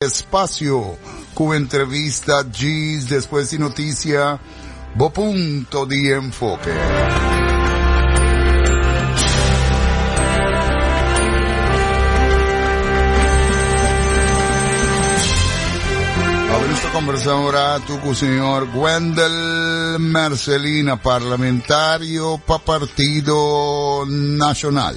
Espacio cu entrevista djis despues di noticia, bo punto di enfoke. Conversa un rato cu señor Wendel Mercelina, parlamentario pa Partido Nacional.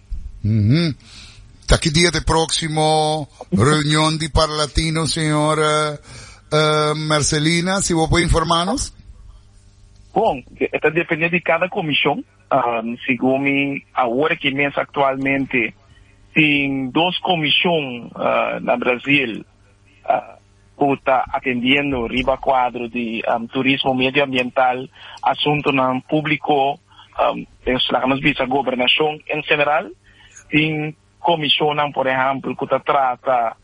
Taki dia de próksimo reunion di Parlatino, señor uh, eh, Marcelina, si bo puede informanos? Bon, está depende de cada comisión. Um, según mi, ahora que mes actualmente, sin dos comisión uh, na Brasil, uh, ku ta atendiendo riba kuadro di turismo medioambiental, asuntunan públiko, es laga nos bisa gobernashon en general. Tin komishonnan, por ehèmpel, ku ta trata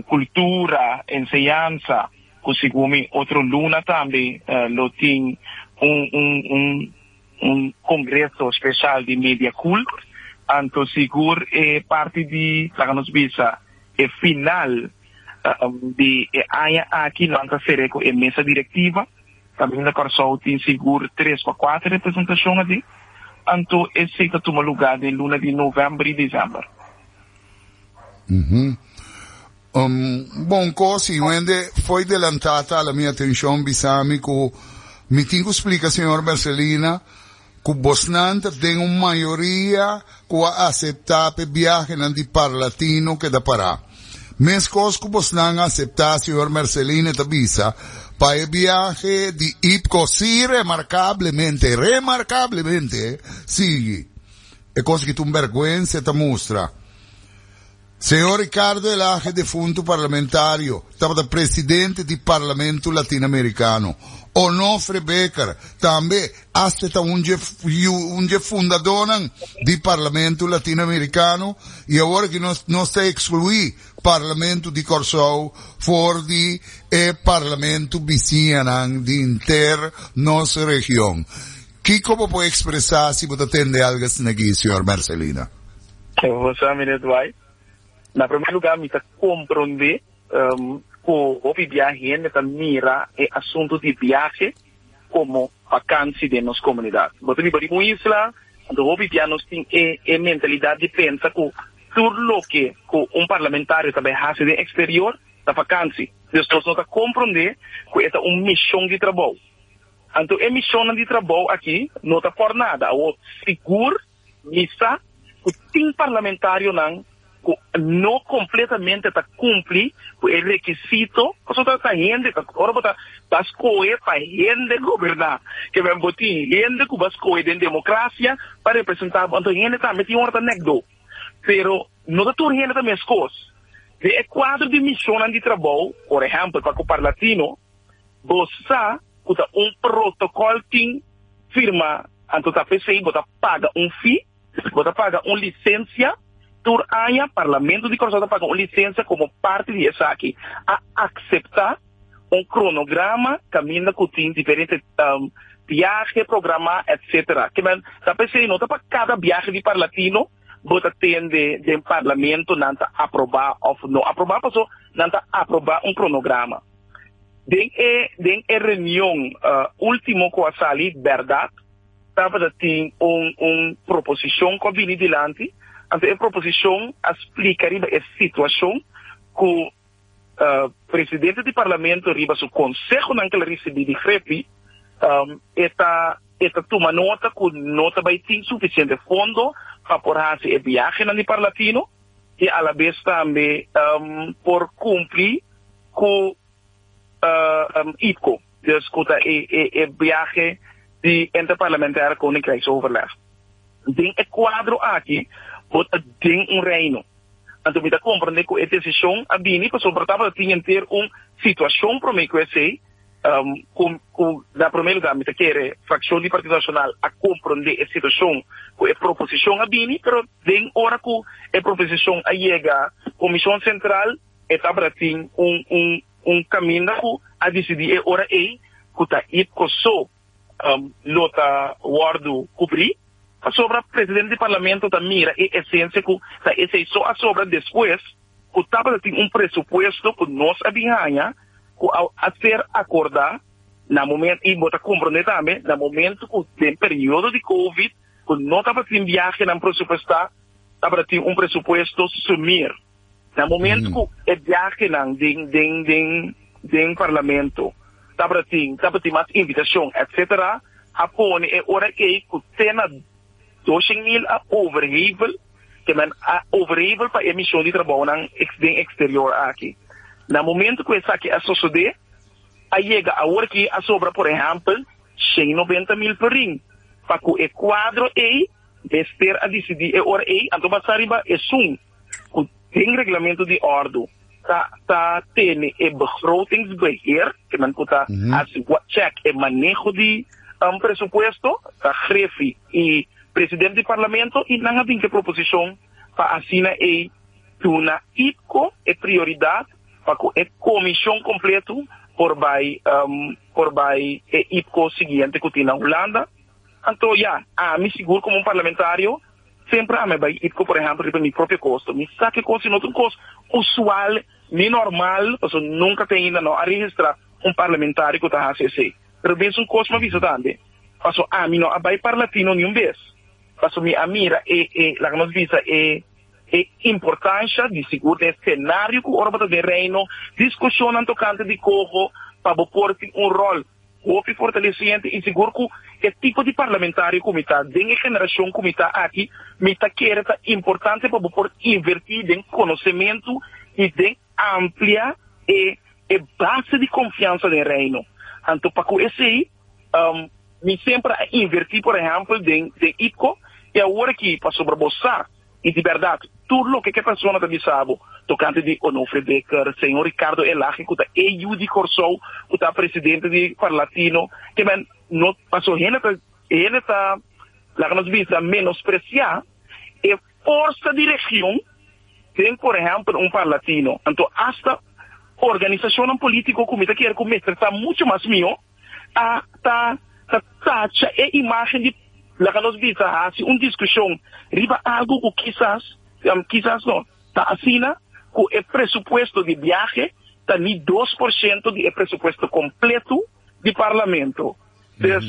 kultura, enseñansa, ku segun mi otro luna tambe lo tin un kongreso speshal di Mediakult. Anto sigur e parti di, laga nos bisa, e final Di e aña aki nan ta ser'é ku e mesa direktiva, ta bini na Kòrsou tin sigur tres pa kuater representashon así, anto esei ta tuma lugá den luna di novèmber i desèmber. Bon kos i wende foi delantá ta ala mi atenshon bisami ku mi tin ku splika señor Mercelina Ku bosnan ta den un mayoria ku a aseptá p'e biahenan di parlatino keda pará. Meskos ku bosnan a aseptá, señor Merceline ta bisa, pa e biahe di IPCO si remarkablemente, remarkablemente, sigui. E kos ki ta un bèrgwense ta mustra. Señor Ricardo Elage defuntu parlamentario tabata presidente di Parlamento Latinamericano. Onofre Becker tambe asta ta un dje un dje fundadonan di Parlamento Latinamericano y awor ki nos nos ta exclui Parlamento di Corsou for di e Parlamento bisiñanan di inter nos region. Kico bo por expresa si bo ta tende algo asina aki, señor Mercelina? José Minet White, Na promé lugá mi ta komprondé ku hopi bia hende ta mira e asuntu di biahe komo bakansi den nos komunidat. Bo ta biba riba un isla, anto hopi bia nos tin e e mentalidat di pensa ku tur loke ku un parlamentario ta bai hasi den eksterior ta bakansi. Dios nos no ta komprondé ku e ta un mishon di trabou. Anto e mishonnan di trabou aki no ta por nada, awor sigur. Mi sa cu tin parlamentarionan cu no completamente ta cumpli cu e requisito, pasobra bo ta ta hende, ta ora bo ta ta scohe pa hende goberna, que men bo tin hende cu bo a scohe den democracia pa representa bo, anto hende tambe tin ora ta nek do, pero no ta tur hende ta mescos. Den e cuadro di misionnan di trabou, por ehempel pa Coparlatino, Bo sa cu ta un protocol tin firma anto ta pesey bo ta paga un fee, bo ta paga un licencia, tur aña Parlamento di Curaçao ta paga un licencia como parti di esaki a acepta un cronograma caminda cu tin diferente biahe programa etcetera. Kiben ta pesey no ta pa cada biahe di Parlatino bo ta tende den Parlamento nan ta aproba of no aproba paso nan ta aproba un cronograma. Den e den e reunion ultimo cu a sali berdad tabata tin un un proposicion cu a bini dilanti, anto e proposicion a splica riba e situacion cu Presidente di Parlamento riba su consehonan cu el a ricibi di Grepi e ta e ta tuma nota cu no ta bay tin suficiente fondo pa por haci e biahenan di Parlatino. i alabes tambe por kumpli ku IPCO, dus ku ta e biahe di Interparlamentaire Koninkrijksoverleg. Den e kuadro aki bo ta den un reino. Anto mi ta komprende ku e desishon a bini pasobra tabata tin henter un situashon promé ku esei, Ku na promé lugá mi ta kere frakshon di Partido Nashonal a komprondé e situashon ku e proposishon a bini, pero den ora ku e proposishon a yega Komishon Sentral e tabata tin un kaminda ku a disidí e ora ei ku ta Ipcoso. lo ta wòrdu kubrí, pasobra presidente di parlamento ta mira e esensia ku ta esei so a sobra despues ku tabata tin un presupuesto ku nos a bin haña ku a ser akordá na momento i bo ta komprondé tambe na momento ku den periodo di covid ku no tabatin biahenan presupuestá tabata tin un presupuesto sumir. Na momento cu e biahenan den den den den Parlamento tabratin tabatin mas invitacion etc. A pone e ora ey cu te na doshing mil a overhevel ke men a overhevel pa e mision di trabounan ex den exterior aki. Na momento cu esaki a sosode a yega aworki a sobra por ehempel shen noventa mil per ring pa cu e cuadro ey mester a dicidi e ora ey anto basa riba esun. ku den reglamento di ordu ta ta tene e begrotingsbeheer, kinan ku ta hasi check e maneho di presupuesto, ta Greffi i president di parlamento i nan a bin ku e proposishon pa asina ei duna IPCO e prioridat pa ku e komishon kompletu por bai por bai e IPCO siguiente ku tin na Hulanda. Anto ya, ami sigur komo un parlamentario. Semper ami a bai Itco por ehempel riba mi propio costo, mi sa ki cos y no ta un cos usual ni normal pasobra nunca te ainda no a registra un parlamentario cu ta haci esey. Pero mi es un cos mi a bisa tambe pasobra ami no a bai parlatino ni un bes pasobra mi a mira e e laga nos bisa e e importancia di sigur den scenario cu ora bo ta den Reino discusionnan tocante di coho pa bo por tin un rol. Hopi fortaleciente y sigur cu e tipo di parlamentario cu mi ta den e generacion cu mi ta aki, mi ta kere ta importante pa bo por inverti den conocemento y den amplia e e base di confiansa den Reino. Anto pa cu esey mi semper a inverti por ehempel den den ITCO y awor aki pasobra bo sa, I di bèrdat, tur loke ku e persona ta bisa bo tokante di Onofre Dekker, señor Ricardo Elage, ku ta AU di Kòrsou, ku ta presidente di Parlatino, ke men no, paso hende ta, hende ta, laga nos bisa, menospresiá e forsa di region den, por ehèmpel, un Parlatino. Anto, asta organisashonnan polítiko ku mi ta kere ku mester ta muchu mas mihó. ta ta ta tacha e imagen di laga nos bisa hasi un diskushon riba algu ku kisas kisas no ta asina ku e presupuesto di biahe ta ni dos por shento di e presupuesto kompletu di parlamento des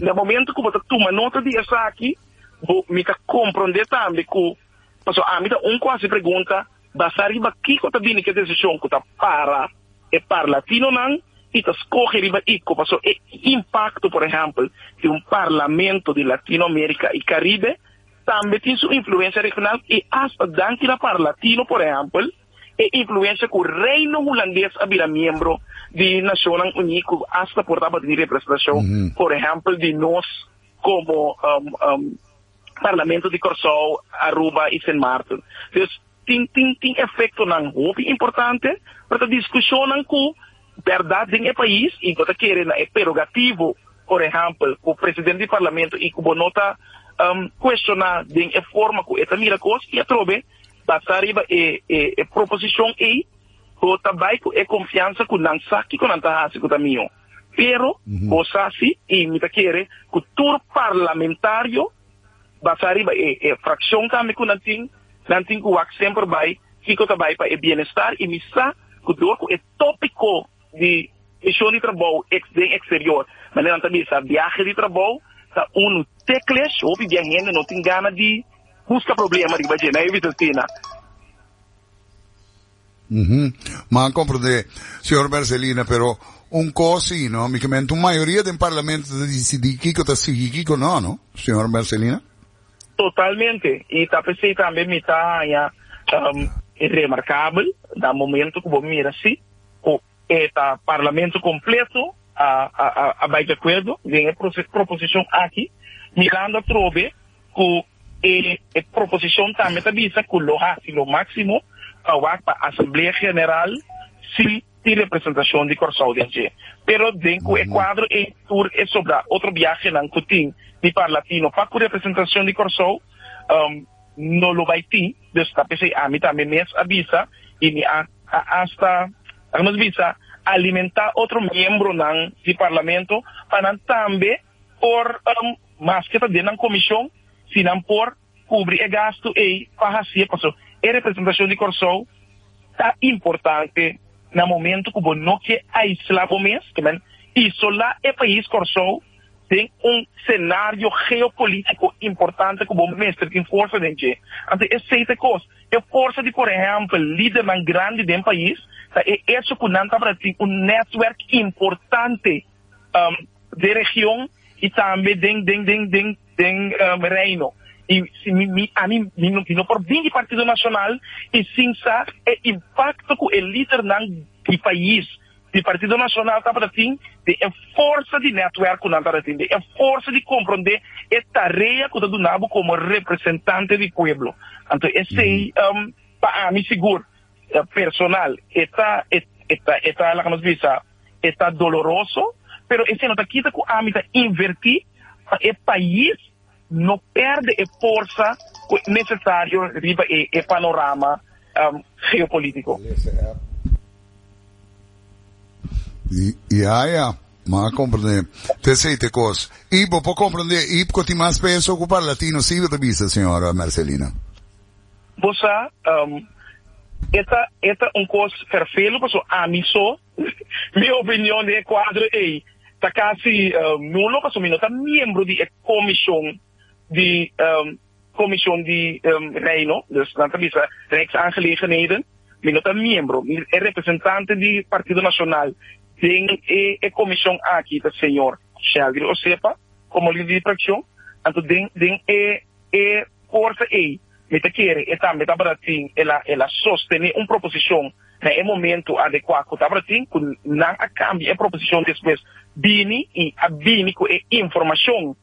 na momento ku bo ta tuma nota di esaki bo mi ta komprondé tambe ku pasobra ami ta un ku hasi pregunta Basá riba kiko ta bini ke desishon ku ta para e parlatinonan i ta skohe riba i ku pasó e impakto, por ehèmpel, di un parlamento di Latino Amerika i Karibe tambe tin su influensia regional i asta danki na parlatino, por ehèmpel, e influensia ku Reino Hulandes a bira miembro di Nashonnan Uní ku asta por tabata di representashon, por ehèmpel, di nos komo. Parlamento di Kòrsou, Aruba i Sint Maarten. Dus tin tin tin efektonan hopi importante, pero ta diskushonnan ku bèrdat den e pais i bo ta kere na e perogativo, por ehèmpel, ku presidente di parlamento i ku bo no ta kueshoná den e forma ku e ta mira kos i atrobe basá riba e e proposishon ei bo ta bai ku e konfiansa ku nan sa kiko nan ta hasi ku ta mihó. Pero bo sa si y mi ta kere cu tur parlamentario basa riba e fraccion tambe cu nan tin, nan tin cu wak semper bay kico ta bay pa e bienestar y mi sa cu door cu e topico di mision di trabou den exterior manera nan ta bisa biahe di trabou ta un te clesh hopi bia hende no tin gana di busca problema riba dje nan e bisa asina. Uhum. Ma a comprende, señor Berzelina, pero un cos si, no? Mi kemento un mayoria den parlamento ta decidi kiko ta sigui, kiko no, no? Señor Berzelina? Totalmente. Y ta p'esei tambe mi ta haña um, remarcabel, na momento cu bo mira si, cu E ta Parlamento completo a bay de acuerdo den e proposicion aki, mirando atrobe cu e proposicion tambe ta bisa cu lo haci lo maximo pa wak pa Asamblea General si tin representacion di Corsou den dje. Pero den cu e cuadro ey tur e sobra otro biahenan cu tin di parlatino pa cu representacion di Corsou no lo bay tin, dus ta pesey ami tambe mes a bisa y mi a a hasta, laga nos bisa, alimentá otro miembronan di Parlamento pa nan tambe por, maske ta den nan komishon, si nan por kubri e gastu ei pa hasié, paso e representashon di Kòrsou ta importante na momentu ku bo no ke aislá bo mes, ke men isolá e pais Kòrsou den un senario geopolitiko importante ku bo mester tin forsa den dje. Anto esei ta e kos. E forsa di por ehèmpel lidernan grandi den pais ta e echo ku nan tabata tin un nètwerk importante den region i tambe den den den reino. I si mi mi ami mi mi no por bin di Partido Nacional i sin sa e impakto ku e lidernan di pais. Di Partido Nacional tabata tin den e forsa di netwerk ku nan tabata tin, den e forsa di komprondé e tarea ku ta duna bo komo representante di pueblo. Anto esei pa ami sigur personal e ta e ta e ta laga nos bisa e ta doloroso, pero esei no ta kita ku ami ta invertí pa e pais. no perde e forsa cu necesario riba e e panorama geopolitico. Yaya, Bo a comprende t'esey t'e cos. Y bo por comprende e Iipco tin mas peso cu para Latino, si bo ta bisa, señora Mercelina? Bo sa, e ta e ta un cos vervelu, pasobra ami so. Mi opinion di e kuadro ei ta kasi nulo pasobra mi no ta miembro di e komishon di Komishon di Reino, dus nan ta bisa Rijksaangelegenheden. Mi no ta miembro. Mi e representante di Partido Nashonal den e komishon aki ta señor Sheldry Osepa, komandante di frakshon. Anto den e. Corte ei, mi ta kere e tambe tabata tin el a el a sostene un proposicion na e momento adecua cu tabata tin cu nan a cambia e proposicion despues bini y a bini cu e informacion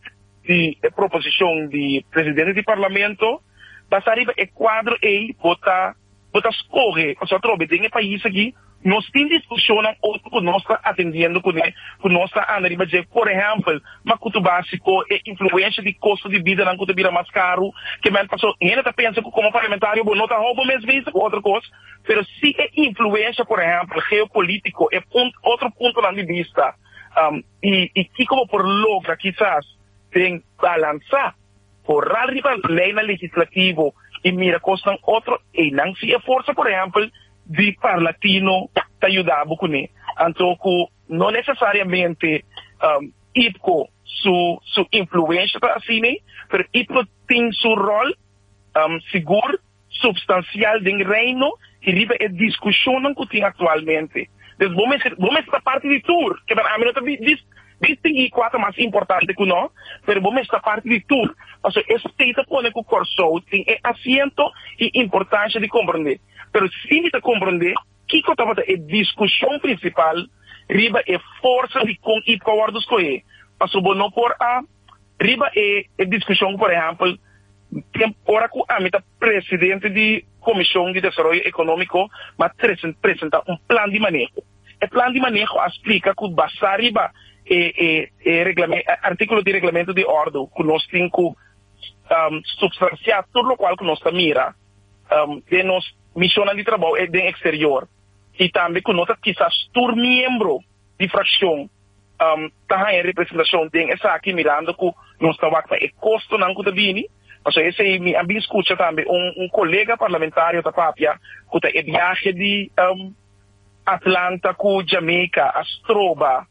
di e proposicion di Presidente di Parlamento. Basa riba e cuadro ei bo ta. bo ta skohe pasobra atrobe den e pais aki nos tin discusionnan otro cu nos ta atendiendo cune, cu nos ta anda riba dje. Por ehempel, macuto basico, e influencia di costo di bidanan cu ta bira mas caro que men. Paso, hende ta pensa cu como parlamentario bo no ta hou bo mes bizi cu otro cos, pero si e influencia, por ehempel, geopolitico, e punt, otro puntonan di bista, y, y kico bo por logra kisas den balansa Horal riba lei na legislativo y mira cosnan otro eynan si e forza por ehempel di parlatino ta yuda bo cune anto cu no necesariamente IPCO su su influencia ta asina pero IPCO tin su rol sigur. substancial den Reino y riba e discusionnan cu tin actualmente. Entonces bo mester bo mester ta parti di tur, keda ami no ta dis distingui cua ta mas importante cu no, pero bo mester ta parti di tur, pasobra esei ta pone cu Corsou tin e asiento y importancia di comprende. Pero si mi ta comprende kico tabata e discusion principal riba e forsa di con y por a wordo scohe, pasobra bo no por a. Riba e diskushon, por ehèmpel, tempu ora ku ami ta presidente di Komishon di Desaroyo Ekonómiko mi a presentá un plan di maneho. E plan di maneho a splika ku basá riba e e artíkulo di Reglamentu di Òrdu ku nos tin ku supstansiá tur lokual ku nos ta mira den nos mishonnan di trabou den eksterior i tambe ku no ta kisas tur miembro Difraccion ta haña representacion den esaki mirando cu nos ta wak pa e costonan cu ta bini, pasobra esey mi a bin scucha tambe un colega parlamentario ta papia cu ta e biahe di Atlanta cu Jamaica a stroba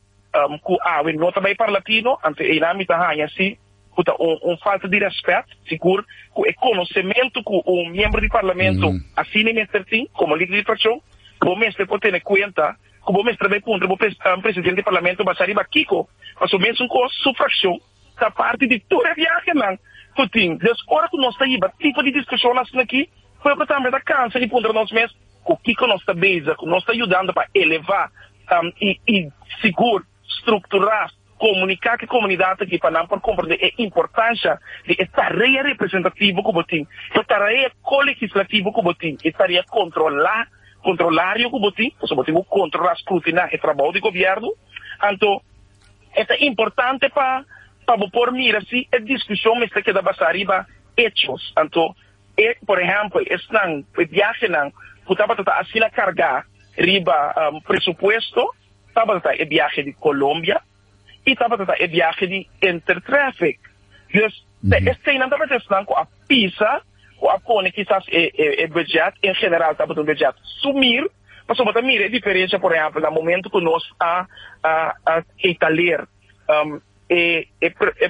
cu awe no ta bay para latino, anto eynan mi ta haña si cu ta un falta di respet, sigur cu e conocemento cu un miembro di parlamento asina e mester tin como lider di fraccion, bo mester por tene cuenta Ku bo mester bay puntra bo presidente di parlamento basa riba kiko paso mesun kos su frakshon ta parti di tur e viahenan ku tin. Des ora ku nos ta hiba tipo di diskushon asina aki, pueblo tambe ta kansa i puntra nos mes ku kiko nos ta beza ku nos ta yudando pa elevá i sigur. Strukturá, komuniká ku e komunidat aki pa nan por komprendé e importansia di e tarea representativo ku bo tin, e tarea kolegislativo ku bo tin, e tarea kontrolá, kontrolario, ku bo tin, pasobra bo tin ku kontrolá, skrutiná, e trabou di gobièrnu. Anto e ta importante pa pa bo por mira si e diskushon mester keda basá riba echos. Anto e, por ehèmpel, esnan, e biahenan ku tabata ta asina kargá riba presupuesto, Tabata e biahe di Colombia y tabata ta e biahe di Intertraffic. Dus ta eseinan tabata esnan cu a pisa, cu a pone kisas e budget, en general tabata un budget sumir. Pasobra bo ta mira e diferencia, por ehempel, na momento cu nos a keitaler. E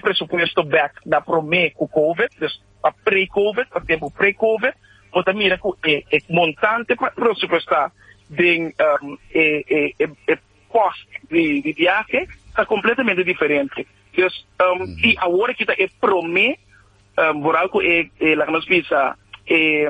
presupuesto bek na prome ku covid, dus pa pre-covid, pa tempu pre-covid, bo ta mira ku e montante pa presupuestá den e pos di biahe ta kompletamente diferente. Dus si awor a kita e prome, boral ku e laga nos bisa e.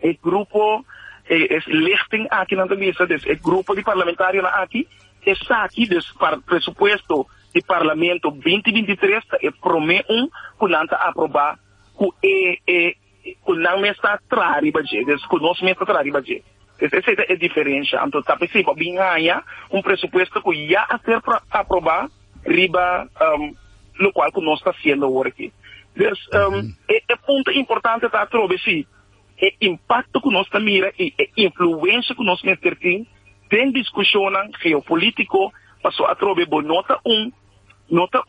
E grupo, e lichting aki nan ta bisa des e grupo di parlamentarionan aki, esaki des par presupuesto di parlamento binti binti tres ta e prome un ku nan ta aprobá ku e e ku nan mes ta tra riba dje, des ku nos mes ta tra riba dje. Des esei ta e diferensha. Anto ta p'esei bo a bin haña un presupuesto ku ya a ser aprobá. riba lokual ku nos ta siendo awor aki. Pues, e punto importante ta atrobe si e impakto ku nos ta mira i e influensia ku nos mester tin den diskushonnan geopolitiko, pasobra atrobe bo no ta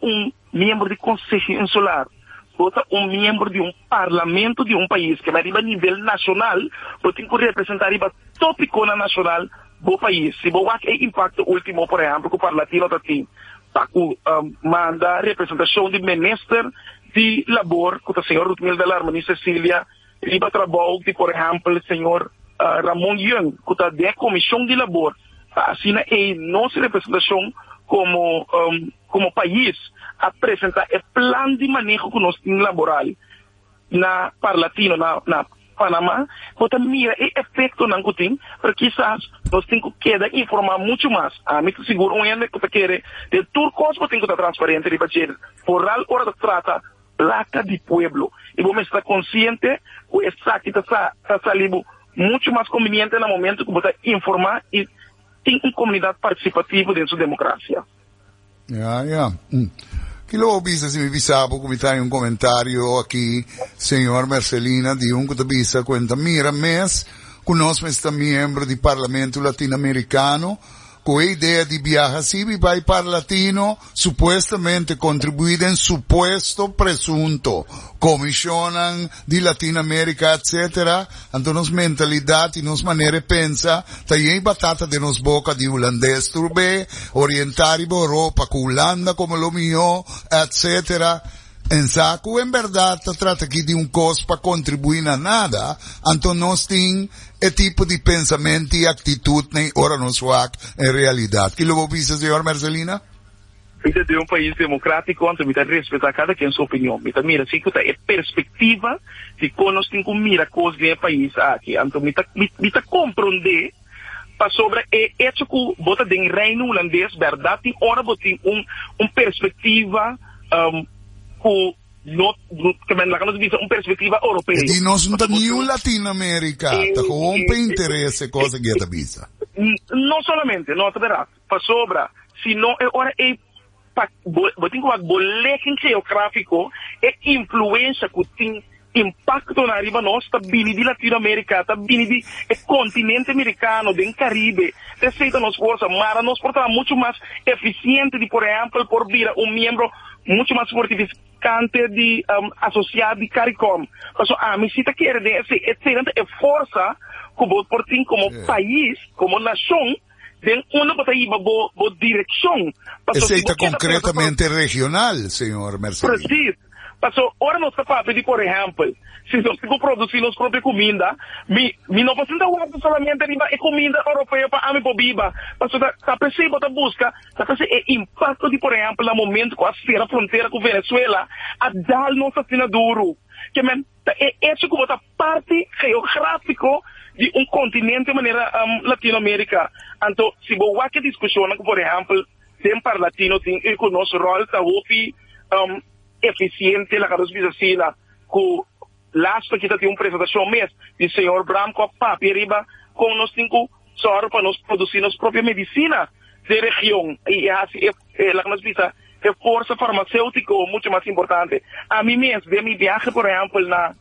un miembro di Konseho Insular. Bo ta un miembro di un parlamento di un pais keme riba nivel nashonal, bo tin ku representá riba topikonan nashonal bo pais. Si bo wak e impakto último, por ehèmpel, ku Parlatino ta tin pa ku manda representashon di minister di Labor, ku ta señor Rutmilda Larmani Cecilia, riba trabou di, por ehèmpel, señor Ramon Yeung, ku ta den e komishon di Labor, pa asina e nos representashon komo. Komo pais a presentá e plan di maneho ku nos tin laboral na parlatino na na Panamá, bo ta mira e efektonan ku tin, pero kisas nos tin ku keda informá muchu mas. Ami ta sigur un hende ku ta kere den tur kos bo tin ku ta transparente riba dje, foral ora ta trata plaka di pueblo. I bo mester ta konsiente ku esaki ta sa ta sali bo muchu mas konbiniente na momentu ku bo ta informá i tin un komunidat partisipativo den su demokrasia. Ya, ya. Mm. Kila bo bisa si mi bisa bo ku mi trae un komentario aki, señor Mercelina, di un ku ta bisa kuenta mira mes ku nos mester miembro di Parlamento Latinoamericano ku e idea di biaha sibi bai para Latino supuestamente kontribuí den supuesto presunto komishonnan di Latin America etc. Anto nos mentalidad y nos manera e pensa ta yey batata den nos boca di Hulandes tur be, orienta riba Europa cu Hulanda como lo miho etc. En sa cu en berdad ta trata aki di un cos pa contribui na nada, anto nos tin e tipo di pensament y actitud ney ora nos wak en realidad. Kilo bo bisa Señora Mercelina? Mi ta den un pais democratico anto mi ta respeta cada quien su opinion. Mi ta mira si cu ta e perspectiva di con nos tin cu mira cos den e pais aki. Anto mi ta mi ta compronde pasobra e hecho cu bo ta den Reino Hulandes berdad tin ora bo tin un un perspectiva cu no kimen laga nos bisa un perspectiva Europeo. E di nos no ta niun Latin America ta con hopi interes e cos aki e ta bisa. No solamente, no ta berdad. Pasobra si no e ora ei pa bo bo tin ku wak bo leken geografiko e influensha ku tin impaktonan ariba nos ta bini di Latino Amerika, ta bini di e kontinente Amerikano, den Karibe, te esei ta nos gosa. Mara nos por traha muchu mas efisiente di por ehèmpel por bira un miembro muchu mas fortifikante di asosiá di Caricom. Pasobra ami si ta kere den esei eseinan ta e forsa ku bo por tin komo pais, komo nashon. den unda bo ta hiba bo bo direkshon. Paso si bo keda pega ta produsi. Presis. Paso ora nos ta papia di por ehèmpel, si nos tin ku produsi nos propio kuminda, mi mi no por sinta warda solamente riba e kuminda oropeo pa ami por biba. Paso ta ta p'esei bo ta buska, ta p'esei e impakto di por ehèmpel na momentu ku a sera frontera ku Venezuela a dal nos asina duru. Ke men. Ta e echo ku bo ta parti geográfiko di un kontinente manera Latino Amerika. Anto si bo wak e diskushonnan ku por ehèmpel den Parlatino tin ei ku nos ròl ta hopi efisiente laga nos bisa asina ku last week kita tin un presentashon mes di señor Bramkop papia riba kon nos tin ku Sòru pa nos produsí nos propio medisina den region i e hasi e, laga nos bisa, e forsa farmaseutiko mucho mas importante. Ami mes den mi biahe, por ehèmpel, na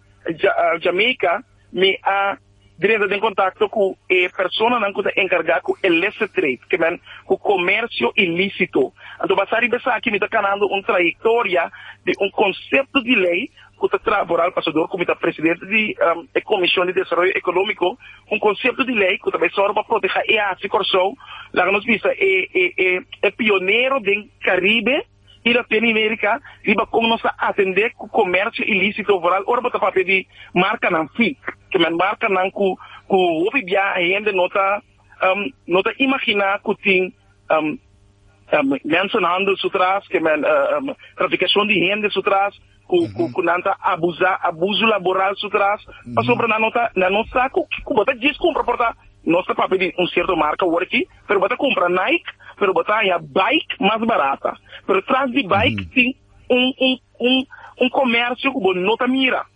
Jamaica, mi a drenta den kontakto ku e personanan ku ta enkargá ku illicit trade, ke men ku komersio ilísito. Anto, basá riba esaki mi ta kanando un trayektoria di un konsepto di lei ku ta traha por al pasador ku mi ta presidente di e Komishon di Desaroyo Ekonómiko, un konsepto di lei ku ta bai sòru pa protehá e hasi Kòrsou, laga nos bisa e pionero den Karibe i Latinoamerika riba kon nos ta atendé ku komèrsio ilísito vooral ora bo ta papia di markanan fik, ke men markanan ku hopi biaha hende no ta no ta imaginá ku tin mensenhandel su tras, ke men trafikashon di hende su tras. ku nan ta abusá, abusu laboral su tras, pasobra nan no ta nan no sa ku ku bo ta djis kumpra por ta nos ta papia di un sierto marka worki, pero bo ta kumpra Nike, pero bo ta haña bike mas barata, pero tras di bike tin un un un un komèrsio ku bo no ta mira,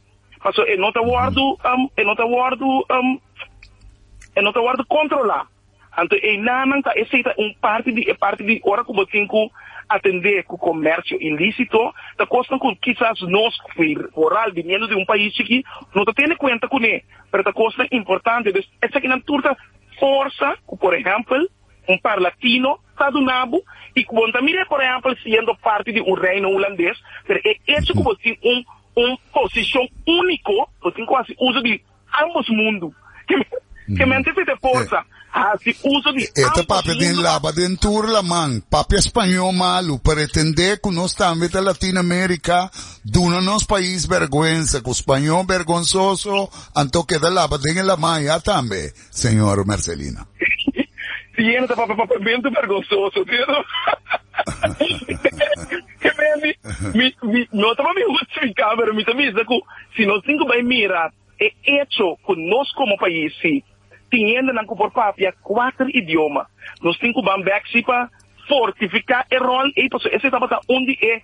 paso e no ta wòrdu e no ta wòrdu e no ta wòrdu kontrolá. Anto eilannan ta esei ta un parti di e parti di ora ku bo tin ku atendé ku komersio ilísito, ta kosnan ku kisas nos ku i moral biniendo di un pais chikí no ta tene kuenta kuné, pero ta kosnan importante. Pues esakinan tur ta forsa ku por ehèmpel un parlatino ta duna bo i ku bon ta mir'é por ehèmpel siendo parti di un reino hulandes, pero e echo ku bo tin un un posishon úniko bo tin ku hasi uso di Ambos mundu. Ke mente fi te porsa hasi uso di ambos mundu. E ta papia den laba den tur laman. Papia spañó malu. Pretendé ku nos tambe ta Latin America duna nos pais bèrgwensa ku spañó bèrgonsoso anto keda laba den e laman ya tambe, señor Mercelina. Siena ta papia papiamentu bèrgonsoso, sier. Heber, mi, mi, mi, no ta pa mi justifica, pero mi ta bisa cu si nos tin cu bay mira e hecho cu nos como pais si tin hendenan cu por papia cuater idioma, nos tin cu ban bek si pa fortifica e rol ey, pasobra esey tabata un di e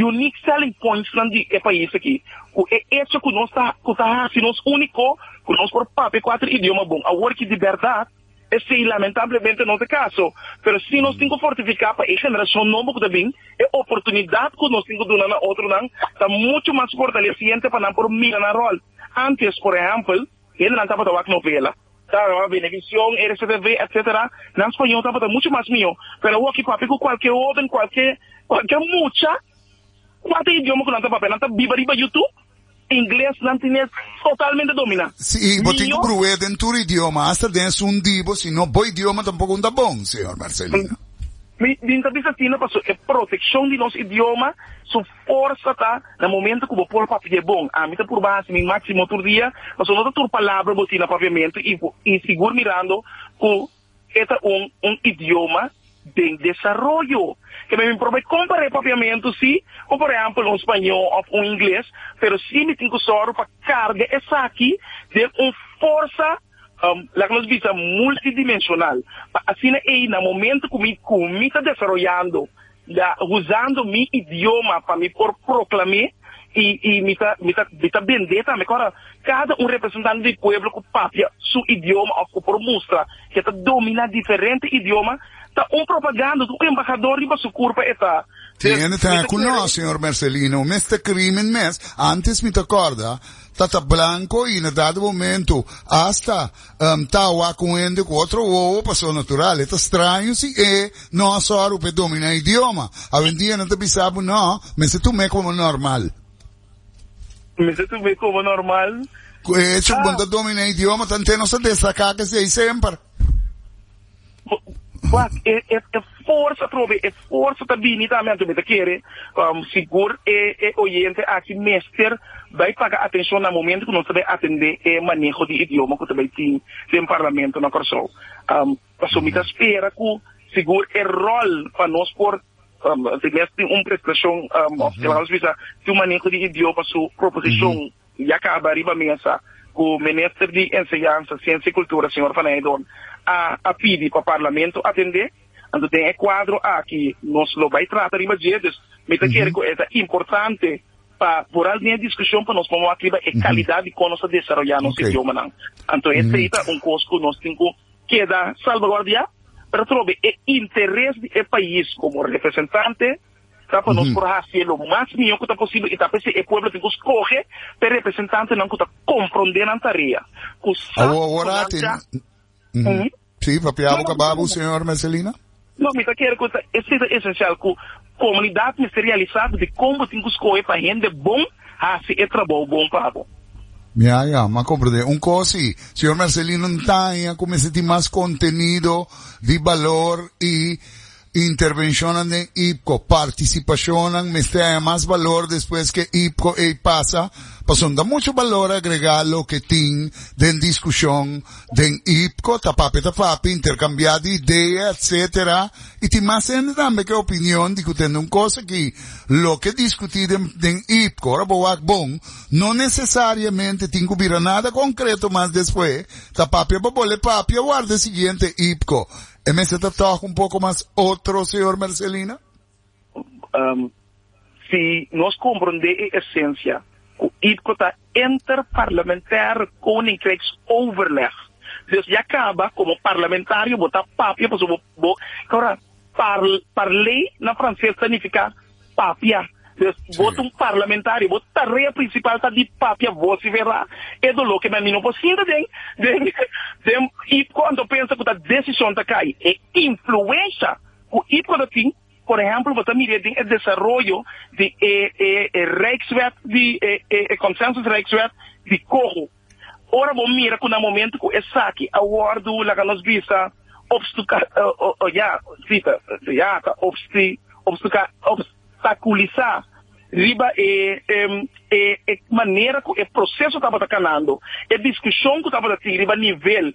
unique selling pointsnan di e pais aki, cu e hecho cu nos ta, cu ta haci nos unico, cu nos por papia cuater idioma bon. Awor ki di berdad. Esei i lamentablemente no ta kaso, pero si nos tin ku fortifiká pa e generashon nobo ku ta bin, e oportunidat ku nos tin ku duna na otronan ta muchu mas fortalesiente pa nan por mira nan ròl. Ántes, por ehèmpel, hendenan tabata wak novela, tawata bini Venevisión, RCTV, etc. Nan spañol tabata muchu mas mihó, pero awor ki papia ku kualke hóben, kualke mucha, kual ta e idioma ku nan ta papia? Nan ta biba riba Youtube? Ingles nan tin es totalmente dominá. Si bo tin ku bruh'é den tur idioma, hasta den esun di bo, si no bo idioma tampoko un ta bon, señor Marcelino. Mi tin ta bisa asina paso e protekshon di nos idioma su forsa ta na momento ku bo por papia bon. Ami ta purba hasi mi máksimo tur dia, paso no ta tur palabra bo tin na papiamentu i sigur mirando ku. e ta un un idioma den desaroyo. Ke mi probe kompar'é papiamentu si ku por ehèmpel un spañó òf un ingles, pero si mi tin ku sòru pa karga esaki den un forsa, laga nos bisa multidimensional, pa asina ei na momentu ku mi ku mi ta desaroyando Ya huzando mi idioma pa mi por proklam'é i i mi ta mi ta mi ta bend'é tambe. Kora kada un representante di pueblo ku papia su idioma òf ku por mustra ke ta dominá diferente idioma ta un propaganda, ta un embahador riba su kurpa e ta. Tin hende ta ku nos, señor Mercelino, mester krimen mes, antes mi ta kòrda, ta ta blanko i inderdat e momentu, asta. Um ta wak ku un hende ku otro wowo paso natural. E ta straño si e no a sòru pa e dominá e idioma. Awendia nan ta bisa bo, No, mester tum'é komo normal. Mester tum'é komo normal. Ku e hecho ku bo ta dominá e idioma ta henter nos ta destaká kes ei semper. Wak, e, e, e forsa probe, e forsa ta bini tambe anto mi ta kere, um, sigur e, e oyente aki mester bay paga atencion na momento ku nos ta bay atende e maneho di idioma ku ta bay tin den parlamento na Kòrsou. Um, paso mi ta spera ku sigur e rol pa nos por um, si mes tin un presentacion um, of Klaus bisa tin un maneho di idioma su proposicion, Ya kaba riba mesa ku Minister di Enseñansa, Siensia i Kultura, señor Van Heydorn, a a pidi pa Parlamento atendé. Anto den e kuadro aki nos lo bai trata riba dje. Dus mi ta kere ku e ta importante pa por al den e diskushon pa nos pone wak riba e kalidat di kon nos ta desaroyá nos idiomanan. Anto esei ta un kos ku nos tin ku keda salvaguardiá, pero atrobe e interes di e pais komo representante Sa pa nos por hacié lo mas mihó cu ta posible y ta p'esei e pueblo tin cu scoge p'e representantenan cu ta comprendé nan tarea, cu sa cu nan ta. Sí, papia abo caba abo, señor Mercelina. No, mi ta kere cu ta esei ta esencial cu comunidad mester realisá dicon bo tin cu scoge pa hende bon haci e trabou bon pa bo. Ya, ya, m'a comprendé. Un cos sí, señor Mercelina, n'ta aña cu mester tin mas contenido di balor y Intervencionnan den IPCO, Participacionnan mester haña mas balor despues cu e IPCO ey pasa, pasobra ta mucho balor agrega loke tin den discusion den IPCO, ta papia ta fapia, intercambia di idea etc. Y tin mas hende tambe cu e opinion di cu tende un cosa cu loke discuti den IPCO, ora bo wak bon, no necesariamente tin cu bira nada concreto mas despues ta papia pa bole papia warda e siguiente IPCO. E mester ta tòg un poko mas otro, señor Mercelina? Um, si nos komprendé e esensia ku IPCO ta Interparlementaire Koninkrijksoverleg, dus ya kaba komo parlamentario bo ta papia pasobra bo, ora, par, parlé na franses ta nifiká, Papia. Des bo ta un parlamentario, bo tarea principal ta di papia vocifera e dolor ke nan niño por sinti den den den IPCO anto pensa ku ta decision ta kai e influensha ku IPCO ta tin por ehemplo bo ta mire den e desaroyo di e e e Rijkswet di e e e consensus Rijkswet di coho. Ora bo mira cu na momento cu esaki a wordo, laga nos bisa, obstuca, ya, cita, ya ta obsti, obstuca, obstaculiza riba e, e, e manera cu e proceso tabata canando, e discusion cu tabata tin riba nivel.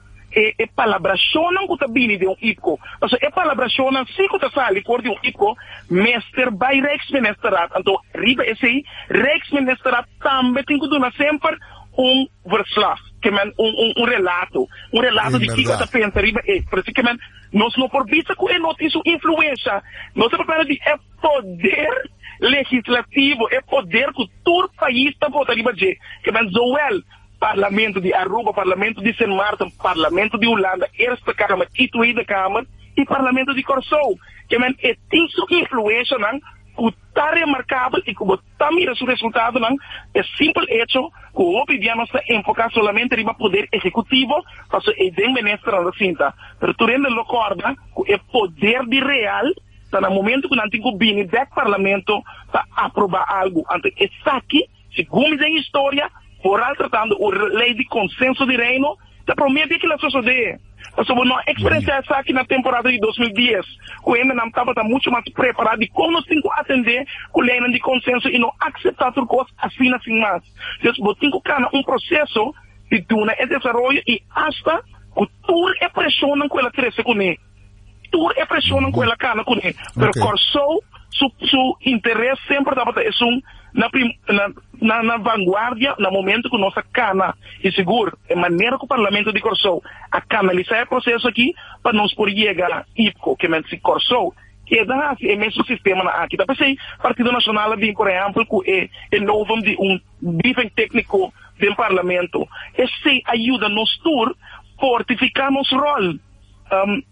e e palabrashonnan ku ta bini den un ipko, pasobra e palabrashonnan si ku ta sali for di un ipko mester bai Rijksministerraad, anto riba esei Rijksministerraad tambe tin ku duna semper un verslag, ke men, un un relato, un relato di kiko e ta pensa riba e, por eso ke men nos no por bisa ku e no tin su influensha, nos ta papia di e poder legislativo, e poder ku tur pais ta vota riba dje, ke men Zoël Parlamento di Aruba, Parlamento di Sint Maarten, Parlamento di Hulanda, Eerste Kamer i Tweede Kamer, i Parlamento di Kòrsou, ke men e tin su influenshanan ku ta remarkabel i ku bo ta mira su resultadonan p'e simpel echo ku hopi bia nos ta enfoká solamente riba poder ehekutivo pasobra ei den Ministernan ta sinta. Pero tur hende lo kòrda ku e poder di real ta na momentu ku nan tin ku bini dèk Parlamento pa aprobá algu. Anto esaki Segun den historia, foral tratando un ley di consenso di Reino, ta prome dia kil a sosode. Pasobra nos a experiencia esaki na temporada di dos mil dies, cu hembernan tabata mucho mas prepara di con nos tin cu atende cu leynan di consenso y no acepta tur cos asina sin mas. Entonces, bo tin cu cana un proceso di duna e desaroyo y hasta cu tur e presionnan cu el a trece cune. tur e presionnan ku el a kana kuné, pero Kòrsou su su interes semper tabata esun na prim na na na vanguardia na momento ku nos a kana. I sigur e manera ku Parlamento di Kòrsou a kanalisá e proseso akí pa nos por yega na IPCO kiamente si Kòrsou keda hasi e mesun sistema na aki ta p'esei Partido Nashonal a bin por ehèmpel ku e e novum di un briefing tékniko den Parlamento. Esei a yuda nos tur fortifiká nos ròl.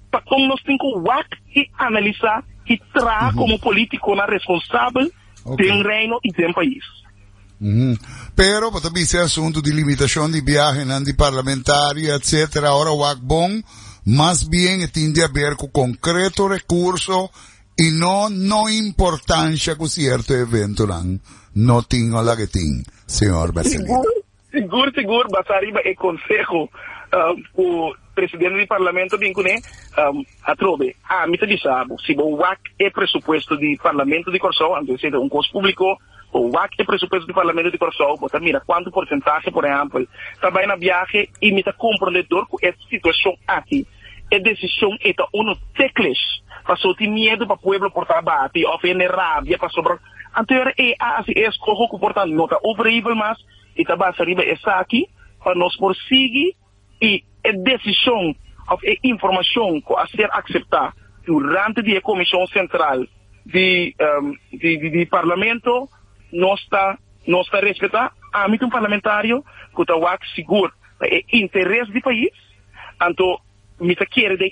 Pa con nos tin cu wak y analisa y traha como politiconan responsabel den Reino y den pais. Pero bo ta bisa e asunto di limitacion di biahenan di parlamentario etc. Awor wak bon mas bien e tin di haber cu concreto recurso y no no importancia cu cierto eventonan no tin o la ke tin, señor Marcelino? Sigur sigur basá riba e konseho ku presidente di parlamento bin kuné atrobe. Ami ta bisa bo, si bo wak e presupuesto di parlamento di Kòrsou, anto esei ta un kos públiko, bo wak e presupuesto di parlamento di Kòrsou, bo ta mira kuantu porsentahe, por ehèmpel, ta bai na biahe i mi ta komprondé dor ku e situashon aki e desishon ei ta unu teklish paso tin miedu pa pueblo por ta bati òf hende rabia pasobra anto e ora ei a hasi e eskoho ku por ta no ta operabel mas. I ta basa riba esaki pa nos por sigui i e desishon òf e informashon ku a ser akseptá durante di e Komishon Sentral di Parlamento nos ta nos ta respetá. Ami ta un parlamentario ku ta wak sigur pa e interes di pais, anto mi ta kere den.